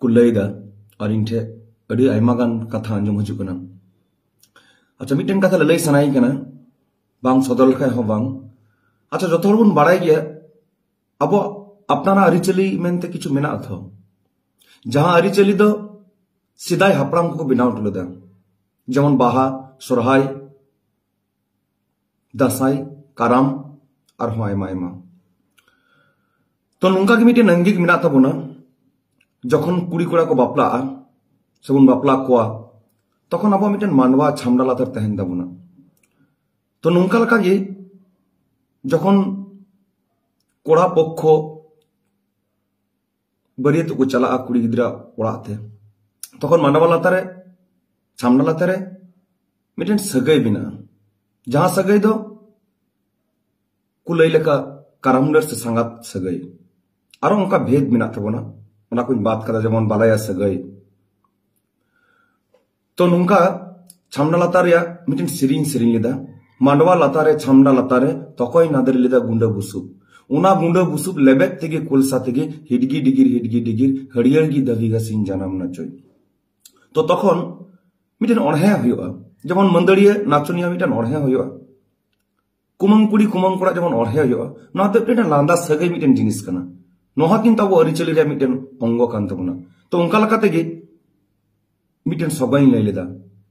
ᱠᱚ ᱞᱟᱹᱭᱫᱟ ᱟᱨ ᱤᱧ ᱴᱷᱮᱡ ᱟᱹᱰᱤ ᱟᱭᱢᱟ ᱜᱟᱱ ᱠᱟᱛᱷᱟ ᱟᱸᱡᱚᱢ ᱦᱤᱡᱩᱜ ᱠᱟᱱᱟ ᱟᱪᱪᱷᱟ ᱢᱤᱫᱴᱮᱱ ᱠᱟᱛᱷᱟ ᱞᱟᱹᱞᱟᱹᱭ ᱥᱟᱱᱟᱭᱤᱧ ᱠᱟᱱᱟ ᱵᱟᱝ ᱥᱚᱫᱚᱨ ᱞᱮᱠᱷᱟᱡ ᱦᱚᱸ ᱵᱟᱝ ᱟᱪᱪᱷᱟ ᱡᱚᱛᱚ ᱦᱚᱲ ᱵᱚᱱ ᱵᱟᱲᱟᱭ ᱜᱮᱭᱟ ᱟᱵᱚᱣᱟᱜ ᱟᱯᱱᱟᱨᱟᱜ ᱟᱹᱨᱤᱪᱟᱹᱞᱤ ᱢᱮᱱᱛᱮ ᱠᱤᱪᱷᱩ ᱢᱮᱱᱟᱜᱼᱟ ᱛᱚ ᱡᱟᱦᱟᱸ ᱟᱹᱨᱤᱪᱟᱹᱞᱤ ᱫᱚ ᱥᱮᱫᱟᱭ ᱦᱟᱯᱲᱟᱢ ᱠᱚᱠᱚ ᱵᱮᱱᱟᱣ ᱦᱚᱴᱚ ᱞᱮᱫᱟ ᱡᱮᱢᱚᱱ ᱵᱟᱦᱟ ᱥᱚᱨᱦᱟᱭ ᱫᱟᱸᱥᱟᱭ ᱠᱟᱨᱟᱢ ᱟᱨᱦᱚᱸ ᱟᱭᱢᱟ ᱟᱭᱢᱟ ᱛᱚ ᱱᱚᱝᱠᱟ ᱜᱮ ᱢᱤᱫᱴᱮᱱ ᱟᱝᱜᱤᱠ ᱢᱮᱱᱟᱜ ᱛᱟᱵᱚᱱᱟ ᱡᱚᱠᱷᱚᱱ ᱠᱩᱲᱤ ᱠᱚᱲᱟ ᱠᱚ ᱵᱟᱯᱞᱟᱜᱼᱟ ᱥᱮᱵᱚᱱ ᱵᱟᱯᱞᱟ ᱠᱚᱣᱟ ᱛᱚᱠᱷᱚᱱ ᱟᱵᱚ ᱢᱤᱫᱴᱮᱱ ᱢᱟᱱᱣᱟ ᱪᱷᱟᱢᱰᱟ ᱞᱟᱛᱟᱨ ᱛᱟᱦᱮᱱ ᱛᱟᱵᱚᱱᱟ ᱛᱚ ᱱᱚᱝᱠᱟ ᱞᱮᱠᱟ ᱜᱮ ᱡᱚᱠᱷᱚᱱ ᱠᱚᱲᱟ ᱯᱚᱠᱠᱷᱚ ᱵᱟᱹᱨᱭᱟᱹᱛ ᱠᱚ ᱪᱟᱞᱟᱜᱼᱟ ᱠᱩᱲᱤ ᱜᱤᱫᱽᱨᱟᱹ ᱚᱲᱟᱜ ᱛᱮ ᱛᱚᱠᱷᱚᱱ ᱢᱟᱰᱣᱟ ᱞᱟᱛᱟᱨ ᱨᱮ ᱪᱷᱟᱢᱰᱟ ᱞᱟᱛᱟᱨ ᱨᱮ ᱢᱤᱫᱴᱮᱱ ᱥᱟᱹᱜᱟᱹᱭ ᱢᱮᱱᱟᱜᱼᱟ ᱡᱟᱦᱟᱸ ᱥᱟᱹᱜᱟᱹᱭ ᱫᱚ ᱠᱚ ᱞᱟᱹᱭ ᱞᱮᱠᱟ ᱠᱟᱨᱟᱢᱰᱟᱹᱨ ᱥᱮ ᱥᱟᱸᱜᱟᱛ ᱥᱟᱹᱜᱟᱹᱭ ᱟᱨᱚ ᱚᱱᱠᱟ ᱵᱷᱮᱫ ᱢᱮᱱᱟᱜ ᱛᱟᱵᱚᱱᱟ ᱚᱱᱟ ᱠᱚᱧ ᱵᱟᱫ ᱠᱟᱫᱟ ᱡᱮᱢᱚᱱ ᱵᱟᱞᱟᱭᱟ ᱥᱟᱹᱜᱟᱹᱭ ᱛᱚ ᱱᱚᱝᱠᱟ ᱪᱷᱟᱢᱰᱟ ᱞᱟᱛᱟᱨ ᱨᱮᱭᱟᱜ ᱢᱤᱫᱴᱮᱱ ᱥᱮᱨᱮᱧ ᱥᱮᱨᱮᱧ ᱞᱮᱫᱟ ᱢᱟᱰᱣᱟ ᱞᱟᱛᱟᱨ ᱨᱮ ᱪᱷᱟᱢᱰᱟ ᱞᱟᱛᱟᱨ ᱨᱮ ᱛᱚᱠᱚᱭ ᱱᱟᱫᱮᱨ ᱞᱮᱫᱟ ᱜᱩᱸᱰᱟᱹ ᱵᱩᱥᱩᱵ ᱚᱱᱟ ᱜᱩᱸᱰᱟᱹ ᱵᱩᱥᱩᱵ ᱞᱮᱵᱮᱫ ᱛᱮᱜᱮ ᱠᱚᱞᱥᱟ ᱛᱮᱜᱮ ᱦᱤᱰᱜᱤ ᱰᱤᱜᱤᱨ ᱦᱤᱰᱜᱤ ᱰᱤᱜᱤᱨ ᱦᱟᱹᱨᱭᱟᱹᱲ ᱜᱮ ᱫᱟᱹᱵᱤ ᱜᱟᱥᱤᱧ ᱡᱟᱱᱟᱢ ᱱᱟᱪᱚᱭ ᱛᱚ ᱛᱚᱠᱷᱚᱱ ᱢᱤᱫᱴᱮᱱ ᱚᱬᱦᱮ ᱦᱩᱭᱩᱜᱼᱟ ᱡᱮᱢᱚᱱ ᱢᱟᱹᱫᱟᱹᱲᱤᱭᱟᱹ ᱱᱟᱪᱚᱱᱤᱭᱟᱹ ᱢᱤᱫᱴᱮᱱ ᱚᱬᱦᱮ ᱦᱩᱭᱩᱜᱼᱟ ᱠᱩᱢᱟᱹᱝ ᱠᱩᱲᱤ ᱠᱩᱢᱟᱹᱝ ᱠᱚᱲᱟ ᱡᱮᱢᱚᱱ ᱚᱲᱦᱮ ᱦᱩᱭᱩᱜᱼᱟ ᱱᱚᱣᱟ ᱫᱚ ᱢᱤᱫᱴᱮᱱ ᱞᱟᱸᱫᱟ ᱥᱟᱹᱜᱟᱹᱭ ᱢᱤᱫᱴᱮᱱ ᱡᱤᱱᱤᱥ ᱠᱟᱱᱟ ᱱᱚᱣᱟ ᱠᱤᱱᱛᱩ ᱟᱵᱚ ᱟᱹᱨᱤᱪᱟᱹᱞᱤ ᱨᱮᱭᱟᱜ ᱢᱤᱫᱴᱮᱱ ᱚᱝᱜᱚ ᱠᱟᱱ ᱛᱟᱵᱚᱱᱟ ᱛᱚ ᱚᱱᱠᱟ ᱞᱮᱠᱟ ᱛᱮᱜᱮ ᱢᱤᱫᱴᱮᱱ ᱥᱚᱜᱚᱭ ᱤᱧ ᱞᱟᱹᱭ ᱞᱮᱫᱟ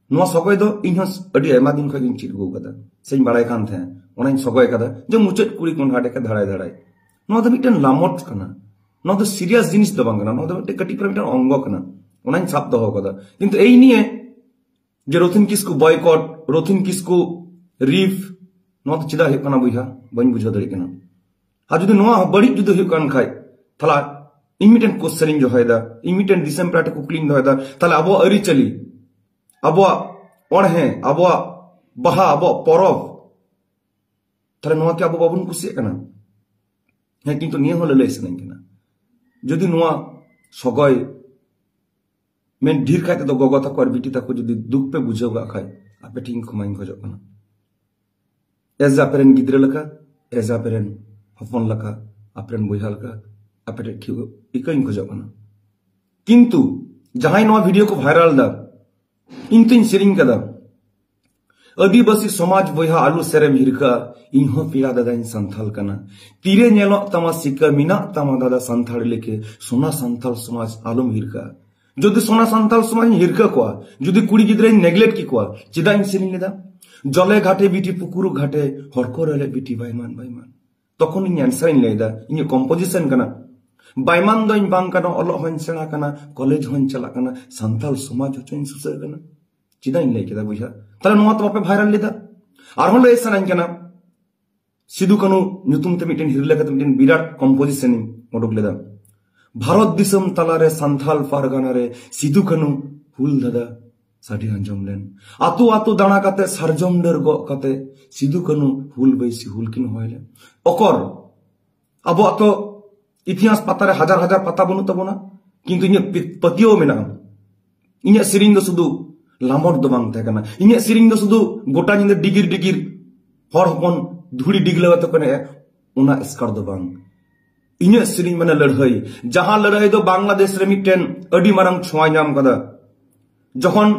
ᱱᱚᱣᱟ ᱥᱚᱜᱚᱭ ᱫᱚ ᱤᱧ ᱦᱚᱸ ᱟᱹᱰᱤ ᱟᱭᱢᱟ ᱫᱤᱱ ᱠᱷᱚᱱ ᱤᱧ ᱪᱮᱫ ᱟᱹᱜᱩ ᱟᱠᱟᱫᱟ ᱥᱮᱧ ᱵᱟᱲᱟᱭ ᱠᱟᱱ ᱛᱟᱦᱮᱸ ᱚᱱᱟᱧ ᱥᱚᱜᱚᱭ ᱟᱠᱟᱫᱟ ᱡᱮ ᱢᱩᱪᱟᱹᱫ ᱠᱩᱲᱤ ᱠᱚ ᱦᱟᱰᱮ ᱠᱟ ᱫᱷᱟᱲᱟᱭ ᱫᱷᱟᱲᱟᱭ ᱱᱚᱣᱟ ᱫᱚ ᱢᱤᱫᱴᱮᱱ ᱞᱟᱢᱚᱴ ᱠᱟᱱᱟ ᱱᱚᱣᱟ ᱫᱚ ᱥᱤᱨᱤᱭᱟᱥ ᱡᱤᱱᱤᱥ ᱫᱚ ᱵᱟᱝ ᱠᱟᱱᱟ ᱱᱚᱣᱟ ᱫᱚ ᱢᱤᱫᱴᱮᱱ ᱠᱟᱹᱴᱤᱡ ᱯᱟᱨᱟ ᱢᱤᱫᱴᱮᱱ ᱚᱝᱜᱚ ᱠᱟᱱᱟ ᱚᱱᱟᱧ ᱥᱟᱵ ᱫᱚᱦᱚ ᱟᱠᱟᱫᱟ ᱠᱤᱱᱛᱩ ᱮᱭ ᱱᱤᱭᱮ ᱡᱮ ᱨᱚᱛᱷᱤᱱ ᱠᱤᱥᱠᱩ ᱵᱚᱭᱠᱚᱴ ᱨᱚᱛᱷᱤᱱ ᱠᱤᱥᱠᱩ ᱨᱤᱯ ᱱᱚᱣᱟ ᱫᱚ ᱪᱮᱫᱟᱜ ᱦᱩᱭᱩᱜ ᱠᱟᱱᱟ ᱵᱚᱭᱦᱟ ᱵᱟᱹᱧ ᱵᱩᱡᱷᱟᱹᱣ ᱫᱟᱲᱮᱭᱟᱜ ᱠᱟᱱᱟ ᱟᱨ ᱡᱩᱫᱤ ᱱᱚᱣᱟ ᱵᱟᱹᱲᱤᱡ ᱡᱩᱫᱤ ᱦᱩᱭᱩᱜ ᱠᱟᱱ ᱠᱷᱟᱡ ᱛᱟᱦᱞᱮ ᱤᱧ ᱢᱤᱫᱴᱮᱱ ᱠᱚᱥᱪᱮᱱ ᱤᱧ ᱫᱚᱦᱚᱭᱮᱫᱟ ᱤᱧ ᱢᱤᱫᱴᱮᱱ ᱫᱤᱥᱚᱢ ᱯᱮᱲᱟ ᱴᱷᱮᱱ ᱠᱩᱠᱞᱤᱧ ᱫᱚᱦᱚᱭᱮᱫᱟ ᱛᱟᱦᱞᱮ ᱟᱵᱚᱣᱟᱜ ᱟᱹᱨᱤᱪᱟᱹᱞᱤ ᱟᱵᱚᱣᱟᱜ ᱚᱬᱦᱮ ᱟᱵᱚᱣᱟᱜ ᱵᱟᱦᱟ ᱟᱵᱚᱣᱟᱜ ᱯᱚᱨᱚᱵᱽ ᱛᱟᱦᱞᱮ ᱱᱚᱣᱟ ᱠᱤ ᱟᱵᱚ ᱵᱟᱵᱚᱱ ᱠᱩᱥᱤᱭᱟᱜ ᱠᱟᱱᱟ ᱦᱮᱸ ᱠᱤᱱᱛᱩ ᱱᱤᱭᱟᱹ ᱦᱚᱸ ᱞᱟᱹᱞᱟᱹᱭ ᱥᱟᱱᱟᱧ ᱠᱟᱱᱟ ᱡᱩᱫᱤ ᱱᱚᱣᱟ ᱥᱚᱜᱚᱭ ᱢᱮᱱ ᱰᱷᱮᱨ ᱠᱟᱭ ᱛᱮᱫᱚ ᱜᱚᱜᱚ ᱛᱟᱠᱚ ᱟᱨ ᱵᱤᱴᱤ ᱛᱟᱠᱚ ᱡᱩᱫᱤ ᱫᱩᱠ ᱯᱮ ᱵᱩᱡᱷᱟᱹᱣ ᱠᱟᱜ ᱠᱷᱟᱡ ᱟᱯᱮ ᱴᱷᱮᱱ ᱠᱷᱚᱢᱟᱧ ᱠᱷᱚᱡᱚᱜ ᱠᱟᱱᱟ ᱮᱡ ᱟᱯᱮ ᱨᱮᱱ ᱜᱤᱫᱽᱨᱟᱹ ᱞᱮᱠᱟ ᱮᱡ ᱟᱯᱮ ᱨᱮᱱ ᱦᱚᱯᱚᱱ ᱞᱮᱠᱟ ᱟᱯᱮ ᱨᱮᱱ ᱵᱚᱭᱦᱟ ᱞᱮᱠᱟ ᱟᱯᱮ ᱴᱷᱮᱱ ᱴᱷᱤᱠ ᱤᱠᱟᱹᱧ ᱠᱷᱚᱡᱚᱜ ᱠᱟᱱᱟ ᱠᱤᱱᱛᱩ ᱡᱟᱦᱟᱸᱭ ᱱᱚᱣᱟ ᱵᱷᱤᱰᱤᱭᱳ ᱠᱚ ᱵᱷᱟᱭᱨᱟᱞ ᱫᱟ ᱤᱧ ᱛᱤᱧ ᱥᱮᱨᱮᱧ ᱠᱟᱫᱟ ᱟᱹᱫᱤᱵᱟᱹᱥᱤ ᱥᱚᱢᱟᱡᱽ ᱵᱚᱭᱦᱟ ᱟᱞᱩ ᱥᱮᱨᱮᱢ ᱦᱤᱨᱠᱟᱹ ᱤᱧ ᱦᱚᱸ ᱯᱮᱲᱟ ᱫᱟᱫᱟᱧ ᱥᱟᱱᱛᱷᱟᱞ ᱠᱟᱱᱟ ᱛᱤᱨᱮ ᱧᱮᱞᱚᱜ ᱛᱟᱢᱟ ᱥᱤᱠᱟᱹ ᱢᱮᱱᱟᱜ ᱛᱟᱢᱟ ᱫᱟᱫᱟ ᱥᱟᱱᱛᱷᱟᱲ ᱞᱮᱠᱮ ᱥᱚᱱᱟ ᱥᱟᱱᱛᱷᱟᱞ ᱥᱚᱢᱟᱡᱽ ᱟᱞᱚᱢ ᱦᱤᱨᱠᱟᱹ ᱡᱩᱫᱤ ᱥᱚᱱᱟ ᱥᱟᱱᱛᱷᱟᱞ ᱥᱚᱢᱟᱡᱽ ᱤᱧ ᱦᱤᱨᱠᱟᱹ ᱠᱚᱣᱟ ᱡᱩᱫᱤ ᱠᱩᱲᱤ ᱜᱤᱫᱽᱨᱟᱹᱧ ᱱᱮᱜᱞᱮᱴ ᱠᱮ ᱠᱚᱣᱟ ᱪᱮᱫᱟᱜ ᱤᱧ ᱥᱮᱨᱮᱧ ᱞᱮᱫᱟ ᱡᱚᱞᱮ ᱜᱷᱟᱴᱮ ᱵᱤᱴᱤ ᱯᱩᱠᱩᱨᱩ ᱜᱷᱟᱴᱮ ᱦᱚᱲ ᱠᱚ ᱨᱮᱞᱮ ᱵᱤᱴᱤ ᱵᱟᱭᱢᱟᱱ ᱵᱟᱭᱢᱟᱱ ᱛᱚᱠᱷᱚᱱ ᱤᱧ ᱟᱱᱥᱟᱨ ᱤᱧ ᱞᱟᱹᱭᱫᱟ ᱤᱧᱟᱹᱜ ᱠᱚᱢᱯᱳᱡᱤᱥᱚᱱ ᱠᱟᱱᱟ ᱵᱟᱭᱢᱟᱱ ᱫᱚᱧ ᱵᱟᱝ ᱠᱟᱱᱟ ᱚᱞᱚᱜ ᱦᱚᱧ ᱥᱮᱬᱟ ᱠᱟᱱᱟ ᱠᱚᱞᱮᱡᱽ ᱦᱚᱧ ᱪᱟᱞᱟᱜ ᱠᱟᱱᱟ ᱥᱟᱱᱛᱟᱞ ᱥᱚᱢᱟᱡᱽ ᱦᱚᱪᱚᱧ ᱥᱩᱥᱟᱹᱨ ᱠᱟᱱᱟ ᱪᱮᱫᱟᱜ ᱤᱧ ᱞᱟᱹᱭ ᱠᱮᱫᱟ ᱵᱚᱭᱦᱟ ᱛᱟᱦᱞᱮ ᱱᱚᱣᱟ ᱛᱚ ᱵᱟᱯᱮ ᱵᱷᱟᱭᱨᱟᱞ ᱞᱮᱫᱟ ᱟᱨᱦᱚᱸ ᱞᱟᱹᱭ ᱥᱟᱱᱟᱧ ᱠᱟᱱᱟ ᱥᱤᱫᱩ ᱠᱟᱹᱱᱩ ᱧᱩᱛᱩᱢ ᱛᱮ ᱢᱤᱫᱴᱮᱱ ᱦᱤᱨᱞᱟᱹ ᱠᱟᱛᱮ ᱢᱤᱫᱴᱮᱱ ᱵᱤᱨᱟᱴ ᱠᱚᱢᱯᱳᱡᱤᱥᱚᱱ ᱤᱧ ᱩᱰᱩᱠ ᱞᱮᱫᱟ ᱵᱷᱟᱨᱚᱛ ᱫᱤᱥᱚᱢ ᱛᱟᱞᱟᱨᱮ ᱥᱟᱱᱛᱷᱟᱞ ᱯᱟᱨᱜᱟᱱᱟ ᱨᱮ ᱥᱤᱫᱩ ᱠᱟᱹᱱᱩ ᱦᱩᱞ ᱫᱟᱫᱟ ᱥᱟᱰᱮ ᱟᱸᱡᱚᱢ ᱞᱮᱱ ᱟᱛᱳ ᱟᱛᱳ ᱫᱟᱬᱟ ᱠᱟᱛᱮ ᱥᱟᱨᱡᱚᱢ ᱰᱟᱹᱨ ᱜᱚᱜ ᱠᱟᱛᱮ ᱥᱤᱫᱩ ᱠᱟᱹᱱᱩ ᱦᱩᱞ ᱵᱟᱹᱭᱥᱤ ᱦᱩᱞ ᱠᱤᱱ ᱦᱚᱦᱚᱭ ᱞᱮᱫ ᱚᱠᱚᱨ ᱟᱵᱚᱣᱟᱜ ᱛᱚ ᱤᱛᱤᱦᱟᱥ ᱯᱟᱛᱟ ᱨᱮ ᱦᱟᱡᱟᱨ ᱦᱟᱡᱟᱨ ᱯᱟᱛᱟ ᱵᱟᱹᱱᱩᱜ ᱛᱟᱵᱚᱱᱟ ᱠᱤᱱᱛᱩ ᱤᱧᱟᱹᱜ ᱯᱟᱹᱛᱭᱟᱹᱣ ᱢᱮᱱᱟᱜᱼᱟ ᱤᱧᱟᱹᱜ ᱥᱮᱨᱮᱧ ᱫᱚ ᱥᱩᱫᱷᱩ ᱞᱟᱢᱚᱴ ᱫᱚ ᱵᱟᱝ ᱛᱟᱦᱮᱸ ᱠᱟᱱᱟ ᱤᱧᱟᱹᱜ ᱥᱮᱨᱮᱧ ᱫᱚ ᱥᱩᱫᱷᱩ ᱜᱚᱴᱟ ᱧᱤᱫᱟᱹ ᱰᱤᱜᱤᱨ ᱰᱤᱜᱤᱨ ᱦᱚᱲ ᱦᱚᱯᱚᱱ ᱫᱷᱩᱲᱤ ᱰᱤᱜᱞᱟᱹᱣ ᱟᱛᱮ ᱠᱚ ᱮᱱᱮᱡᱼᱟ ᱚᱱᱟ ᱮᱥᱠᱟᱨ ᱫᱚ ᱵᱟᱝ ᱤᱧᱟᱹᱜ ᱥᱮᱨᱮᱧ ᱢᱟᱱᱮ ᱞᱟᱹᱲᱦᱟᱹᱭ ᱡᱟᱦᱟᱸ ᱞᱟᱹᱲᱦᱟᱹᱭ ᱫᱚ ᱵᱟᱝᱞᱟᱫᱮᱥ ᱨᱮ ᱢᱤᱫᱴᱮᱱ ᱟᱹᱰᱤ ᱢᱟᱨᱟᱝ ᱪᱷᱚᱸᱭ ᱧᱟᱢ ᱠᱟᱫᱟ ᱡᱚᱠᱷᱚᱱ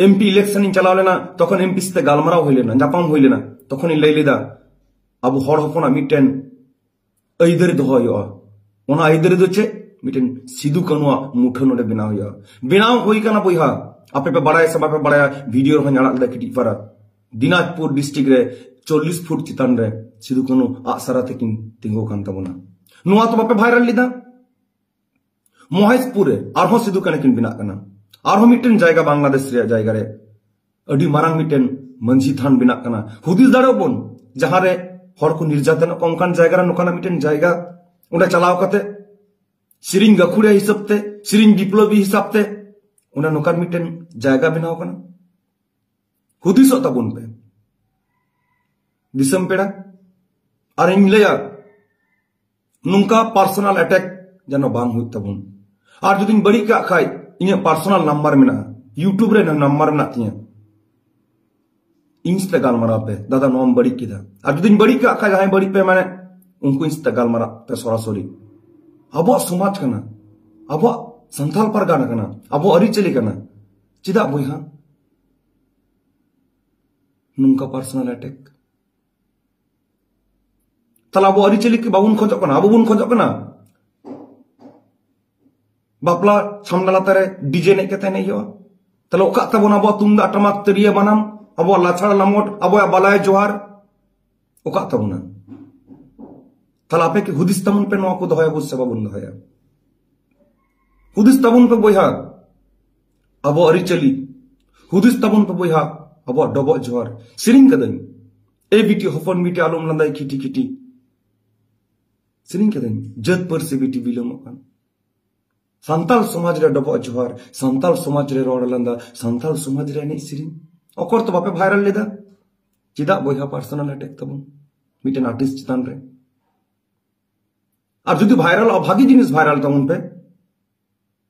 ᱮᱢᱯᱤ ᱤᱞᱮᱠᱥᱚᱱ ᱤᱧ ᱪᱟᱞᱟᱣ ᱞᱮᱱᱟ ᱛᱚᱠᱷᱚᱱ ᱮᱢᱯᱤ ᱥᱟᱛᱮ ᱜᱟᱞᱢᱟᱨᱟᱣ ᱦᱩᱭ ᱞᱮᱱᱟ ᱧᱟᱯᱟᱢ ᱦᱩᱭ ᱞᱮᱱᱟ ᱛᱚᱠᱷᱚᱱᱤᱧ ᱞᱟᱹᱭ ᱞᱮᱫᱟ ᱟᱵᱚ ᱦᱚᱲ ᱦᱚᱯᱚᱱᱟᱜ ᱢᱤᱫᱴᱮᱱ ᱟᱹᱭᱫᱟᱹᱨᱤ ᱫᱚᱦᱚ ᱦᱩᱭᱩᱜᱼᱟ ᱚᱱᱟ ᱟᱹᱭᱫᱟᱹᱨᱤ ᱫᱚ ᱪᱮᱫ ᱢᱤᱫᱴᱮᱱ ᱥᱤᱫᱩ ᱠᱟᱹᱱᱩᱣᱟᱜ ᱢᱩᱴᱷᱟᱹᱱ ᱱᱚᱰᱮ ᱵᱮᱱᱟᱣ ᱦᱩᱭᱩᱜᱼᱟ ᱵᱮᱱᱟᱣ ᱦᱩᱭ ᱠᱟᱱᱟ ᱵᱚᱭᱦᱟ ᱟᱯᱮ ᱯᱮ ᱵᱟᱲᱟᱭᱟ ᱥᱮ ᱵᱟᱯᱮ ᱵᱟᱲᱟᱭᱟ ᱵᱷᱤᱰᱤᱭᱳ ᱨᱮᱦᱚᱸ ᱟᱲᱟᱜ ᱞᱮᱫᱟ ᱠᱟᱹᱴᱤᱡ ᱯᱟᱨᱟ ᱫᱤᱱᱟᱡᱽᱯᱩᱨ ᱰᱤᱥᱴᱨᱤᱠᱴ ᱨᱮ ᱪᱚᱞᱞᱤᱥ ᱯᱷᱩᱴ ᱪᱮᱛᱟᱱ ᱨᱮ ᱥᱤᱫᱩ ᱠᱟᱹᱱᱩ ᱟᱜ ᱥᱟᱨᱟ ᱛᱮᱠᱤᱱ ᱛᱤᱸᱜᱩ ᱠᱟᱱ ᱛᱟᱵᱚᱱᱟ ᱱᱚᱣᱟ ᱛᱚ ᱵᱟᱯᱮ ᱵᱷᱟᱭᱨᱟᱞ ᱞᱮᱫᱟ ᱢᱚᱦᱮᱥᱯᱩᱨ ᱨᱮ ᱟᱨᱦᱚᱸ ᱥᱤᱫᱩ ᱠᱟᱹᱱᱩ ᱠᱤᱱ ᱵᱮᱱᱟᱜ ᱠᱟᱱᱟ ᱟᱨᱦᱚᱸ ᱢᱤᱫᱴᱮᱱ ᱡᱟᱭᱜᱟ ᱵᱟᱝᱞᱟᱫᱮᱥ ᱨᱮᱭᱟᱜ ᱡᱟᱭᱜᱟ ᱨᱮ ᱟᱹᱰᱤ ᱢᱟᱨᱟᱝ ᱢᱤᱫᱴᱮᱱ ᱢᱟᱹᱡᱷᱤ ᱛᱷᱟᱱ ᱵᱮᱱᱟᱜ ᱠᱟᱱᱟ ᱦᱩᱫᱤᱥ ᱫᱟᱲᱮᱭᱟᱜ ᱵᱚᱱ ᱡᱟᱦᱟᱸ ᱨᱮ ᱦᱚᱲ ᱠᱚ ᱱᱤᱨᱡᱟᱛᱚᱱᱚᱜ ᱠᱟᱱᱟ ᱚᱱᱠᱟᱱ ᱡᱟᱭᱜᱟ ᱨᱮ ᱱᱚᱝᱠᱟᱱᱟᱜ ᱢᱤᱫᱴᱮᱱ ᱡᱟᱭᱜᱟ ᱚᱸᱰᱮ ᱪᱟᱞᱟᱣ ᱠᱟᱛᱮ ᱥᱮᱨᱮᱧ ᱜᱟᱹᱠᱷᱩᱲᱤᱭᱟᱹ ᱦᱤᱥᱟᱹᱵ ᱛᱮ ᱥᱮᱨᱮᱧ ᱵᱤᱯᱞᱚᱵᱤ ᱦᱤᱥᱟᱹᱵ ᱛᱮ ᱚᱱᱟ ᱱᱚᱝᱠᱟᱱ ᱢᱤᱫᱴᱮᱱ ᱡᱟᱭᱜᱟ ᱵᱮᱱᱟᱣ ᱠᱟᱱᱟ ᱦᱩᱫᱤᱥᱚᱜ ᱛᱟᱵᱚᱱ ᱯᱮ ᱫᱤᱥᱚᱢ ᱯᱮᱲᱟ ᱟᱨ ᱤᱧ ᱞᱟᱹᱭᱟ ᱱᱚᱝᱠᱟ ᱯᱟᱨᱥᱚᱱᱟᱞ ᱮᱴᱮᱠ ᱡᱮᱱᱚ ᱵᱟᱝ ᱦᱩᱭᱩᱜ ᱛᱟᱵᱚᱱ ᱟᱨ ᱡᱩᱫᱤᱧ ᱵᱟᱹᱲᱤᱡ ᱠᱟᱜ ᱠᱷᱟᱡ ᱤᱧᱟᱹᱜ ᱯᱟᱨᱥᱚᱱᱟᱞ ᱱᱟᱢᱵᱟᱨ ᱢᱮᱱᱟᱜᱼᱟ ᱤᱭᱩᱴᱩᱵᱽ ᱨᱮ ᱱᱟᱢᱵᱟᱨ ᱢᱮᱱᱟᱜ ᱛᱤᱧᱟᱹ ᱤᱧ ᱥᱟᱛᱮ ᱜᱟᱞᱢᱟᱨᱟᱣ ᱯᱮ ᱫᱟᱫᱟ ᱱᱚᱣᱟᱢ ᱵᱟᱹᱲᱤᱡ ᱠᱮᱫᱟ ᱟᱨ ᱡᱩᱫᱤᱧ ᱵᱟᱹᱲᱤᱡ ᱠᱟᱜ ᱠᱷᱟᱡ ᱡᱟᱦᱟᱸᱭ ᱵᱟᱹᱲᱤᱡ ᱯᱮ ᱢᱟᱱᱮ ᱩᱱᱠᱩ ᱤᱧ ᱥᱟᱛᱮ ᱜᱟᱞᱢᱟᱨᱟᱣ ᱯᱮ ᱥᱚᱨᱟᱥᱚᱨᱤ ᱟᱵᱚᱣᱟᱜ ᱥᱚᱢᱟᱡᱽ ᱠᱟᱱᱟ ᱟᱵᱚᱣᱟᱜ ᱥᱟᱱᱛᱟᱞ ᱯᱟᱨᱜᱟᱱᱟ ᱠᱟᱱᱟ ᱟᱵᱚᱣᱟᱜ ᱟᱹᱨᱤᱪᱟᱹᱞᱤ ᱠᱟᱱᱟ ᱪᱮᱫᱟᱜ ᱵᱚᱭᱦᱟ ᱱᱚᱝᱠᱟ ᱯᱟᱨᱥᱚᱱᱟᱞ ᱮᱴᱮᱠ ᱛᱟᱦᱚᱞᱮ ᱟᱵᱚ ᱟᱹᱨᱤᱪᱟᱹᱞᱤ ᱵᱟᱵᱚᱱ ᱠᱷᱚᱡᱚᱜ ᱠᱟᱱᱟ ᱟᱵᱚ ᱵᱚᱱ ᱠᱷᱚᱡᱚᱜ ᱠᱟᱱᱟ ᱵᱟᱯᱞᱟ ᱥᱟᱢᱱᱟ ᱞᱟᱛᱟᱨ ᱨᱮ ᱰᱤᱡᱮ ᱮᱱᱮᱡ ᱠᱟᱛᱮ ᱮᱱᱮᱡ ᱦᱩᱭᱩᱜᱼᱟ ᱛᱟᱦᱚᱞᱮ ᱚᱠᱟᱜ ᱛᱟᱵᱚᱱ ᱟᱵᱚᱣᱟᱜ ᱛᱩᱢᱫᱟᱜ ᱴᱟᱢᱟᱠ ᱛᱤᱨᱭᱟᱹ ᱵᱟᱱᱟᱢ ᱟᱵᱚᱣᱟᱜ ᱞᱟᱪᱷᱟᱲ ᱞᱟᱢᱚᱴ ᱟᱵᱚᱣᱟᱜ ᱵᱟᱞᱟᱭ ᱡᱚᱦᱟᱨ ᱚᱠᱟᱜ ᱛᱟᱵᱚᱱᱟ ᱛᱟᱦᱚᱞᱮ ᱟᱯᱮ ᱠᱤ ᱦᱩᱫᱤᱥ ᱛᱟᱵᱚᱱ ᱯᱮ ᱱᱚᱣᱟ ᱠᱚ ᱫᱚᱦᱚᱭᱟ ᱵᱚᱱ ᱥᱮ ᱵᱟᱵᱚᱱ ᱫᱚᱦᱚᱭᱟ ᱦᱩᱫᱤᱥ ᱛᱟᱵᱚᱱ ᱯᱮ ᱵᱚᱭᱦᱟ ᱟᱵᱚ ᱟᱹᱨᱤᱪᱟᱹᱞᱤ ᱦᱩᱫᱤᱥ ᱛᱟᱵᱚᱱ ᱯᱮ ᱵᱚᱭᱦᱟ ᱟᱵᱚᱣᱟᱜ ᱰᱚᱵᱚᱜ ᱡᱚᱦᱟᱨ ᱥᱮᱨᱮᱧ ᱠᱟᱹᱫᱟᱹᱧ ᱮ ᱵᱤᱴᱤ ᱦᱚᱯᱚᱱ ᱵᱤᱴᱤ ᱟᱞᱚᱢ ᱞᱟᱸᱫᱟᱭ ᱠᱷᱤᱴᱤ ᱠᱷᱤᱴᱤ ᱥᱮᱨᱮᱧ ᱠᱟᱹᱫᱟᱹᱧ ᱡᱟᱹᱛ ᱯᱟᱹᱨᱥᱤ ᱵᱤᱴᱤ ᱵᱤᱞᱚᱢᱚᱜ ᱠᱟᱱ ᱥᱟᱱᱛᱟᱲ ᱥᱚᱢᱟᱡᱽ ᱨᱮ ᱰᱚᱵᱚᱜ ᱡᱚᱦᱟᱨ ᱥᱟᱱᱛᱟᱲ ᱥᱚᱢᱟᱡᱽ ᱨᱮ ᱨᱚᱲ ᱞᱟᱸᱫᱟ ᱥᱟᱱᱛᱟᱲ ᱥᱚᱢᱟᱡᱽ ᱨᱮ ᱮᱱᱮᱡ ᱥᱮᱨᱮᱧ ᱚᱠᱚᱨ ᱛᱚ ᱵᱟᱯᱮ ᱵᱷᱟᱭᱨᱟᱞ ᱞᱮᱫᱟ ᱪᱮᱫᱟᱜ ᱵᱚᱭᱦᱟ ᱯᱟᱨᱥᱚᱱᱟᱞ ᱮᱴᱮᱠ ᱛᱟᱵᱚᱱ ᱢᱤᱫᱴᱮᱱ ᱟᱨᱴᱤᱥᱴ ᱪᱮᱛᱟᱱ ᱨᱮ ᱟᱨ ᱡᱩᱫᱤ ᱵᱷᱟᱭᱨᱟᱞᱚᱜᱼᱟ ᱵᱷᱟᱜᱤ ᱡᱤᱱᱤᱥ ᱵᱷᱟᱭᱨᱟᱞ ᱛᱟᱵᱚᱱ ᱯᱮ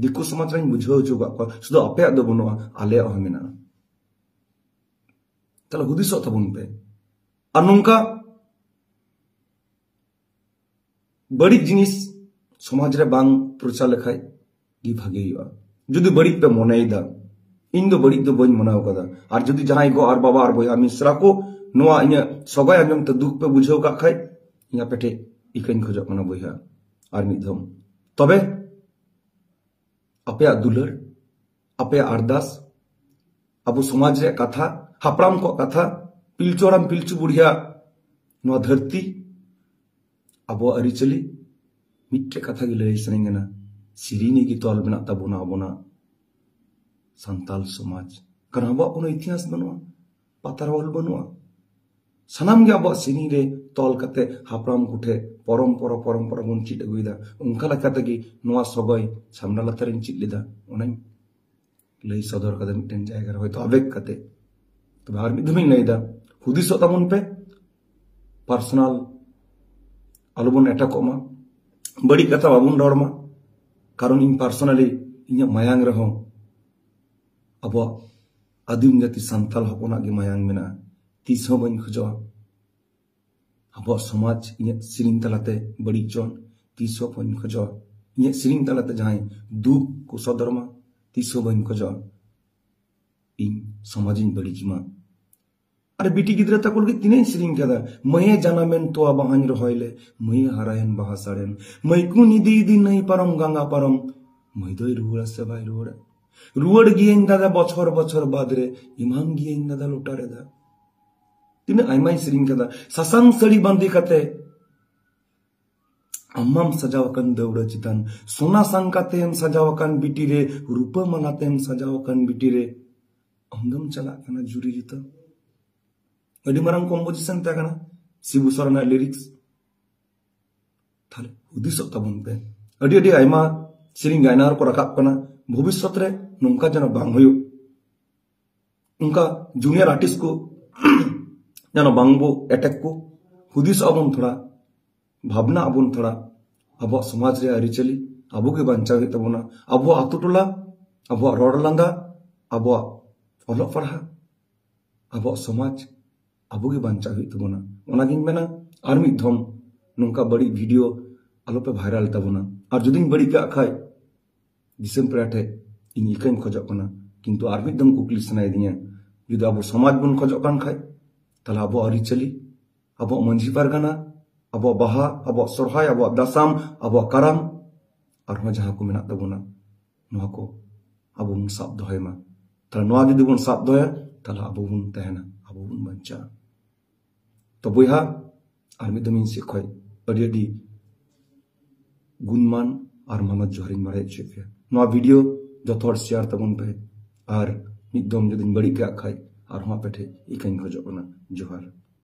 ᱫᱤᱠᱩ ᱥᱚᱢᱟᱡᱽ ᱨᱮᱧ ᱵᱩᱡᱷᱟᱹᱣ ᱦᱚᱪᱚ ᱠᱟᱜ ᱠᱚᱣᱟ ᱥᱩᱫᱷᱩ ᱟᱯᱮᱭᱟᱜ ᱫᱚ ᱵᱟᱹᱱᱩᱜᱼᱟ ᱟᱞᱮᱭᱟᱜ ᱦᱚᱸ ᱢᱮᱱᱟᱜᱼᱟ ᱛᱟᱦᱞᱮ ᱦᱩᱫᱤᱥᱚᱜ ᱛᱟᱵᱚᱱ ᱯᱮ ᱟᱨ ᱱᱚᱝᱠᱟ ᱵᱟᱹᱲᱤᱡ ᱡᱤᱱᱤᱥ ᱥᱚᱢᱟᱡᱽ ᱨᱮ ᱵᱟᱝ ᱯᱨᱚᱪᱟᱨ ᱞᱮᱠᱷᱟᱡ ᱜᱮ ᱵᱷᱟᱜᱮ ᱦᱩᱭᱩᱜᱼᱟ ᱡᱩᱫᱤ ᱵᱟᱹᱲᱤᱡ ᱯᱮ ᱢᱚᱱᱮᱭᱮᱫᱟ ᱤᱧ ᱫᱚ ᱵᱟᱹᱲᱤᱡ ᱫᱚ ᱵᱟᱹᱧ ᱢᱚᱱᱮᱣ ᱠᱟᱫᱟ ᱟᱨ ᱡᱩᱫᱤ ᱡᱟᱦᱟᱸᱭ ᱜᱚ ᱟᱨ ᱵᱟᱵᱟ ᱟᱨ ᱵᱚᱭᱦᱟ ᱢᱤᱥᱨᱟ ᱠᱚ ᱱᱚᱣᱟ ᱤᱧᱟᱹᱜ ᱥᱚᱜᱚᱭ ᱟᱸᱡᱚᱢ ᱛᱮ ᱫᱩᱠ ᱯᱮ ᱵᱩᱡᱷᱟᱹᱣ ᱠᱟᱜ ᱠᱷᱟᱡ ᱤᱧ ᱟᱯᱮ ᱴᱷᱮᱡ ᱤᱠᱟᱹᱧ ᱠᱷᱚᱡᱚᱜ ᱠᱟᱱᱟ ᱵᱚᱭᱦᱟ ᱟᱨ ᱢᱤᱫ ᱫᱷᱟᱣ ᱛᱚᱵᱮ ᱟᱯᱮᱭᱟᱜ ᱫᱩᱞᱟᱹᱲ ᱟᱯᱮᱭᱟᱜ ᱟᱨᱫᱟᱥ ᱟᱵᱚ ᱥᱚᱢᱟᱡᱽ ᱨᱮᱭᱟᱜ ᱠᱟᱛᱷᱟ ᱦᱟᱯᱲᱟᱢ ᱠᱚᱣᱟᱜ ᱠᱟᱛᱷᱟ ᱯᱤᱞᱪᱩ ᱦᱟᱲᱟᱢ ᱯᱤᱞᱪᱩ ᱵᱩᱲᱦᱤᱭᱟᱜ ᱱᱚᱣᱟ ᱫᱷᱟᱹᱨᱛᱤ ᱟᱵᱚᱣᱟᱜ ᱟᱹᱨᱤᱪᱟᱹᱞᱤ ᱢᱤᱫᱴᱮᱡ ᱠᱟᱛᱷᱟ ᱜᱮ ᱞᱟᱹᱭ ᱥᱟᱱᱟᱧ ᱠᱟᱱᱟ ᱥᱮᱨᱮᱧ ᱜᱮ ᱛᱚᱞ ᱢᱮᱱᱟᱜ ᱛᱟᱵᱚᱱᱟ ᱟᱵᱚᱱᱟᱜ ᱥᱟᱱᱛᱟᱞ ᱥᱚᱢᱟᱡᱽ ᱠᱟᱨᱚᱱ ᱟᱵᱚᱣᱟᱜ ᱠᱳᱱᱳ ᱤᱛᱤᱦᱟᱥ ᱵᱟᱹᱱᱩᱜᱼᱟ ᱯᱟᱛᱟᱨ ᱚᱞ ᱵᱟᱹᱱᱩᱜᱼᱟ ᱥᱟᱱᱟᱢ ᱜᱮ ᱟᱵᱚᱣᱟᱜ ᱥᱮᱨᱮᱧ ᱨᱮ ᱛᱚᱞ ᱠᱟᱛᱮ ᱦᱟᱯᱲᱟᱢ ᱠᱚᱴᱷᱮ ᱯᱚᱨᱚᱢᱯᱚᱨᱟ ᱯᱚᱨᱚᱢᱯᱚᱨᱟ ᱵᱚᱱ ᱪᱮᱫ ᱟᱹᱜᱩᱭᱮᱫᱟ ᱚᱱᱠᱟ ᱞᱮᱠᱟ ᱛᱮᱜᱮ ᱱᱚᱣᱟ ᱥᱚᱜᱚᱭ ᱥᱟᱢᱱᱟ ᱞᱟᱛᱟᱨᱤᱧ ᱪᱮᱫ ᱞᱮᱫᱟ ᱚᱱᱟᱧ ᱞᱟᱹᱭ ᱥᱚᱫᱚᱨ ᱠᱟᱫᱟ ᱢᱤᱫᱴᱮᱱ ᱡᱟᱭᱜᱟ ᱨᱮ ᱦᱚᱭᱛᱳ ᱟᱵᱮᱜ ᱠᱟᱛᱮ ᱛᱚᱵᱮ ᱟᱨ ᱢᱤᱫ ᱫᱷᱟᱣᱤᱧ ᱞᱟᱹᱭᱫᱟ ᱦᱩᱫᱤᱥᱚᱜ ᱛᱟᱵᱚᱱ ᱯᱮ ᱯᱟᱨᱥᱚᱱᱟᱞ ᱟᱞᱚᱵᱚᱱ ᱮᱴᱟᱠᱚᱜ ᱢᱟ ᱵᱟᱹᱲᱤᱡ ᱠᱟᱛᱷᱟ ᱵᱟᱵᱚᱱ ᱨᱚᱲ ᱢᱟ ᱠᱟᱨᱚᱱ ᱤᱧ ᱯᱟᱨᱥᱚᱱᱟᱞᱤ ᱤᱧᱟᱹᱜ ᱢᱟᱭᱟᱝ ᱨᱮᱦᱚᱸ ᱟᱵᱚᱣᱟᱜ ᱟᱹᱫᱤᱢ ᱡᱟᱹᱛᱤ ᱥᱟᱱᱛᱟᱞ ᱦᱚᱯᱚᱱᱟᱜ ᱜᱮ ᱢᱟᱭᱟᱝ ᱢᱮᱱᱟᱜᱼᱟ ᱛᱤᱥ ᱦᱚᱸ ᱵᱟᱹᱧ ᱠᱷᱚᱡᱚᱜᱼᱟ ᱟᱵᱚᱣᱟᱜ ᱥᱚᱢᱟᱡᱽ ᱤᱧᱟᱹᱜ ᱥᱮᱨᱮᱧ ᱛᱟᱞᱟᱛᱮ ᱵᱟᱹᱲᱤᱡ ᱪᱚᱱ ᱛᱤᱥ ᱦᱚᱸ ᱵᱟᱹᱧ ᱠᱷᱚᱡᱚᱜᱼᱟ ᱤᱧᱟᱹᱜ ᱥᱮᱨᱮᱧ ᱛᱟᱞᱟᱛᱮ ᱡᱟᱦᱟᱸᱭ ᱫᱩᱠ ᱠᱚ ᱥᱚᱫᱚᱨ ᱢᱟ ᱛᱤᱥ ᱦᱚᱸ ᱵᱟᱹᱧ ᱠᱷᱚᱡᱚᱜᱼᱟ ᱤᱧ ᱥᱚᱢᱟᱡᱽ ᱤᱧ ᱵᱟᱹᱲᱤᱡ ᱢᱟ ᱟᱨ ᱵᱤᱴᱤ ᱜᱤᱫᱽᱨᱟᱹ ᱛᱟᱠᱚ ᱞᱟᱹᱜᱤᱫ ᱛᱤᱱᱟᱹᱜ ᱤᱧ ᱥᱮᱨᱮᱧ ᱠᱟᱫᱟ ᱢᱟᱹᱭᱮ ᱡᱟᱱᱟᱢᱮᱱ ᱛᱚᱣᱟ ᱵᱟᱦᱟᱧ ᱨᱚᱦᱚᱭ ᱞᱮ ᱢᱟᱹᱭᱮ ᱦᱟᱨᱟᱭᱮᱱ ᱵᱟᱦᱟ ᱥᱟᱲᱮᱱ ᱢᱟᱹᱭ ᱠᱩᱧ ᱤᱫᱤ ᱤᱫᱤ ᱱᱟᱹᱭ ᱯᱟᱨᱚᱢ ᱜᱟᱸᱜᱟ ᱯᱟᱨᱚᱢ ᱢᱟᱹᱭ ᱫᱚᱭ ᱨᱩᱣᱟᱹᱲᱟ ᱥᱮ ᱵᱟᱭ ᱨᱩᱣᱟᱹᱲᱟ ᱨᱩᱣᱟᱹᱲ ᱜᱤᱭᱟᱹᱧ ᱫᱟᱫᱟ ᱵᱚᱪᱷᱚᱨ ᱵᱚᱪᱷᱚᱨ ᱵᱟᱫᱽ ᱨᱮ ᱮᱢᱟᱢ ᱜᱤᱭᱟᱹᱧ ᱫᱟᱫᱟ ᱞᱚᱴᱟ ᱨᱮ ᱫᱟᱜ ᱛᱤᱱᱟᱹᱜ ᱟᱭᱢᱟᱧ ᱥᱮᱨᱮᱧ ᱠᱟᱫᱟ ᱥᱟᱥᱟᱝ ᱥᱟᱹᱲᱤ ᱵᱟᱸᱫᱮ ᱠᱟᱛᱮ ᱟᱢᱟᱢ ᱥᱟᱡᱟᱣ ᱟᱠᱟᱱ ᱫᱟᱹᱣᱲᱟᱹ ᱪᱮᱛᱟᱱ ᱥᱚᱱᱟ ᱥᱟᱝᱠᱟ ᱛᱮᱢ ᱥᱟᱡᱟᱣ ᱟᱠᱟᱱ ᱵᱤᱴᱤ ᱨᱮ ᱨᱩᱯᱟᱹ ᱢᱟᱞᱟ ᱛᱮᱢ ᱥᱟᱡᱟᱣ ᱟᱠᱟᱱ ᱵᱤᱴᱤ ᱨᱮ ᱟᱢ ᱫᱚᱢ ᱪᱟᱞᱟᱜ ᱠᱟᱱᱟ ᱡᱩᱨᱤ ᱡᱩᱛᱟᱹ ᱟᱹᱰᱤ ᱢᱟᱨᱟᱝ ᱠᱚᱢᱯᱳᱡᱤᱥᱚᱱ ᱛᱟᱦᱮᱸ ᱠᱟᱱᱟ ᱥᱤᱵᱩ ᱥᱚᱨᱮᱱᱟᱜ ᱞᱤᱨᱤᱠᱥ ᱛᱟᱦᱞᱮ ᱦᱩᱫᱤᱥᱚᱜ ᱛᱟᱵᱚᱱ ᱯᱮ ᱟᱹᱰᱤ ᱟᱹᱰᱤ ᱟᱭᱢᱟ ᱥᱮᱨᱮᱧ ᱜᱟᱭᱱᱟᱦᱟᱨ ᱠᱚ ᱨᱟᱠᱟᱵ ᱠᱟᱱᱟ ᱵᱷᱚᱵᱤᱥᱥᱚᱛ ᱨᱮ ᱱᱚᱝᱠᱟ ᱡᱮᱱᱚ ᱵᱟᱝ ᱦᱩᱭᱩᱜ ᱚᱱᱠᱟ ᱡᱩᱱᱤᱭᱟᱨ ᱟᱨᱴᱤᱥᱴ ᱠᱚ ᱡᱮᱱᱚ ᱵᱟᱝ ᱵᱚ ᱮᱴᱮᱠ ᱠᱚ ᱦᱩᱫᱤᱥ ᱟᱵᱚᱱ ᱛᱷᱚᱲᱟ ᱵᱷᱟᱵᱽᱱᱟ ᱟᱵᱚᱱ ᱛᱷᱚᱲᱟ ᱟᱵᱚᱣᱟᱜ ᱥᱚᱢᱟᱡᱽ ᱨᱮ ᱟᱹᱨᱤᱪᱟᱹᱞᱤ ᱟᱵᱚ ᱜᱮ ᱵᱟᱧᱪᱟᱣ ᱦᱩᱭᱩᱜ ᱛᱟᱵᱚᱱᱟ ᱟᱵᱚᱣᱟᱜ ᱟᱛᱳ ᱴᱚᱞᱟ ᱟᱵᱚᱣᱟᱜ ᱨᱚᱲ ᱞᱟᱸᱫᱟ ᱟᱵᱚᱣᱟᱜ ᱚᱞᱚᱜ ᱯᱟᱲᱦᱟᱜ ᱟᱵᱚᱣᱟᱜ ᱥᱚᱢᱟᱡᱽ ᱟᱵᱚ ᱜᱮ ᱵᱟᱧᱪᱟᱣ ᱦᱩᱭᱩᱜ ᱛᱟᱵᱚᱱᱟ ᱚᱱᱟᱜᱤᱧ ᱢᱮᱱᱟ ᱟᱨ ᱢᱤᱫ ᱫᱷᱚᱢ ᱱᱚᱝᱠᱟ ᱵᱟᱹᱲᱤᱡ ᱵᱷᱤᱰᱤᱭᱳ ᱟᱞᱚᱯᱮ ᱵᱷᱟᱭᱨᱟᱞ ᱛᱟᱵᱚᱱᱟ ᱟᱨ ᱡᱩᱫᱤᱧ ᱵᱟᱹᱲᱤᱡ ᱠᱟᱜ ᱠᱷᱟᱡ ᱫᱤᱥᱚᱢ ᱯᱮᱲᱟ ᱴᱷᱮᱡ ᱤᱧ ᱤᱠᱟᱹᱧ ᱠᱷᱚᱡᱚᱜ ᱠᱟᱱᱟ ᱠᱤᱱᱛᱩ ᱟᱨ ᱢᱤᱫ ᱫᱚᱢ ᱠᱩᱠᱞᱤ ᱥᱟᱱᱟᱭᱮᱫᱤᱧᱟ ᱡᱩᱫᱤ ᱟᱵᱚ ᱥᱚᱢᱟᱡᱽ ᱵᱚᱱ ᱠᱷᱚᱡᱚᱜ ᱠᱟᱱ ᱠᱷᱟᱡ ᱛᱟᱦᱞᱮ ᱟᱵᱚ ᱟᱹᱨᱤᱪᱟᱹᱞᱤ ᱟᱵᱚ ᱢᱟᱹᱡᱷᱤ ᱯᱟᱨᱜᱟᱱᱟ ᱟᱵᱚ ᱵᱟᱦᱟ ᱟᱵᱚ ᱥᱚᱨᱦᱟᱭ ᱟᱵᱚ ᱫᱟᱥᱟᱢ ᱟᱵᱚ ᱠᱟᱨᱟᱢ ᱟᱨᱦᱚᱸ ᱡᱟᱦᱟᱸ ᱠᱚ ᱢᱮᱱᱟᱜ ᱛᱟᱵᱚᱱᱟ ᱱᱚᱣᱟ ᱠᱚ ᱟᱵᱚ ᱵᱚᱱ ᱥᱟᱵ ᱫᱚᱦᱚᱭ ᱢᱟ ᱛᱟᱦᱞᱮ ᱱᱚᱣᱟ ᱡᱩᱫᱤ ᱵᱚᱱ ᱥᱟᱵ ᱫᱚᱦᱚᱭᱟ ᱛᱟᱦᱞᱮ ᱟᱵᱚ ᱵᱚᱱ ᱛᱟᱦᱮᱱᱟ ᱟᱵᱚ ᱵᱚᱱ ᱵᱟᱧᱪᱟᱜᱼᱟ ᱛᱚ ᱵᱚᱭᱦᱟ ᱟᱨ ᱢᱤᱫ ᱫᱚᱢ ᱤᱧ ᱥᱮᱫ ᱠᱷᱚᱡ ᱟᱹᱰᱤ ᱟᱹᱰᱤ ᱜᱩᱱᱢᱟᱱ ᱟᱨ ᱢᱟᱱᱚᱛ ᱡᱚᱦᱟᱨᱤᱧ ᱵᱟᱲᱟᱭ ᱦᱚᱪᱚᱭᱮᱫ ᱯᱮᱭᱟ ᱱᱚᱣᱟ ᱵᱷᱤᱰᱤᱭᱳ ᱡᱚᱛᱚ ᱦᱚᱲ ᱥᱮᱭᱟᱨ ᱛᱟᱵᱚᱱ ᱯᱮ ᱟᱨ ᱢᱤᱫ ᱫᱚᱢ ᱡᱩᱫᱤᱧ ᱵᱟᱹᱲᱤᱡ ᱠᱟᱜ ᱠᱷᱟᱡ ᱟᱨᱦᱚᱸ ᱟᱯᱮ ᱴᱷᱮᱡ ᱤᱠᱟᱹᱧ ᱠᱷᱚᱡᱚᱜ ᱠᱟᱱᱟ ᱡᱚᱦᱟᱨ